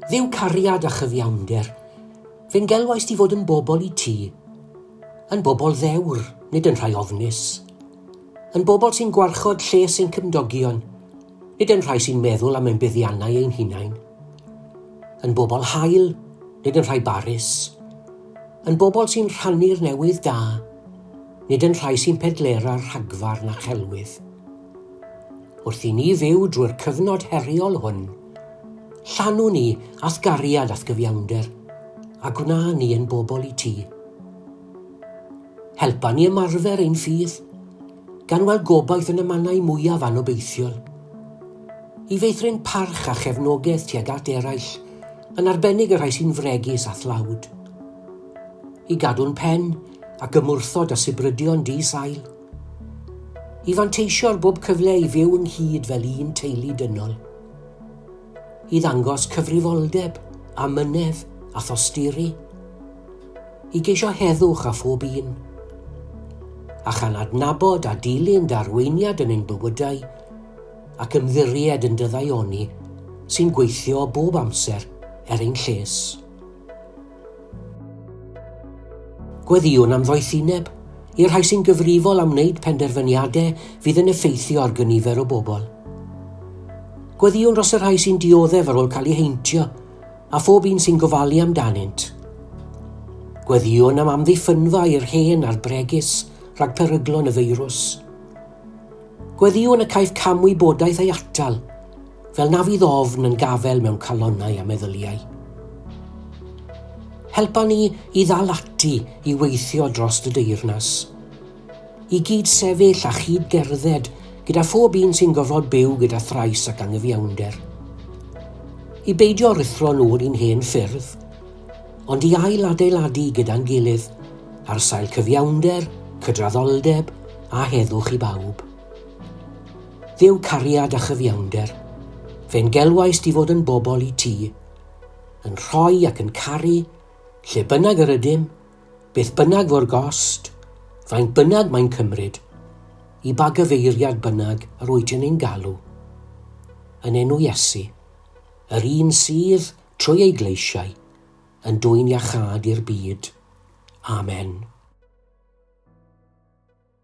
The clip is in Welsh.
Dduw cariad a chyfiawnder, fe ngelwaist i fod yn bobl i ti, yn bobl ddewr, nid yn rhai ofnus, yn bobl sy'n gwarchod lles ein cymdogion, nid yn rhai sy'n meddwl am ein buddiannau ein hunain, yn bobl hael, nid yn rhai barus, yn bobl sy'n rhannu'r newydd da, nid yn rhai sy'n pedlera rhagfarn a chelwydd. Wrth i ni fyw drwy'r cyfnod heriol hwn, llanwn ni a'th gariad a'th gyfiawnder, a gwna ni yn bobl i ti. Helpa ni ymarfer ein ffydd, gan weld gobaith yn y mannau mwyaf anobeithiol. I feithrin parch a chefnogaeth tuag at eraill, yn arbennig y rhai sy'n fregus a thlawd. I gadw'n pen ac ymwrthod â sibrydion di-sail. I fanteisio ar bob cyfle i fyw ynghyd fel un teulu dynol. I ddangos cyfrifoldeb, amynedd a thosturi. I geisio heddwch a phob un. A chan adnabod a dilyn darweiniad yn ein bywydau ac ymddiried yn dyddaioni sy'n gweithio bob amser er ein lles. Gweddïwn am ddoethineb i'r rhai sy'n gyfrifol am wneud penderfyniadau fydd yn effeithio ar gynifer o bobl. Gweddïwn dros y rhai sy'n dioddef ar ôl cael eu heintio a phob un sy'n gofalu amdanynt. Gweddïwn am amddiffynfa i'r hen a'r bregus rhag peryglon y feirws. Gweddïwn y caiff camwybodaeth ei atal Fel na fydd ofn yn gafel mewn calonnau a meddyliau. Helpa ni i ddal ati i weithio dros dy deyrnas. I gyd sefyll a chyd gerdded gyda phob un sy'n gorfod byw gyda thrais ac angyfiawnder. I beidio rithro nhw'r un hen ffyrdd, ond i ail adeiladu gyda'n gilydd ar sail cyfiawnder, cydraddoldeb a heddwch i bawb. Dduw cariad a chyfiawnder, fe'n gelwaist i fod yn bobl i ti, yn rhoi ac yn caru, lle bynnag yr ydym, beth bynnag fo'r gost, faint bynnag mae'n cymryd, i ba gyfeiriad bynnag yr wyt yn ein galw. Yn enw Iesu, yr un sydd, trwy ei gleisiau, yn dwyn iachâd i'r byd. Amen.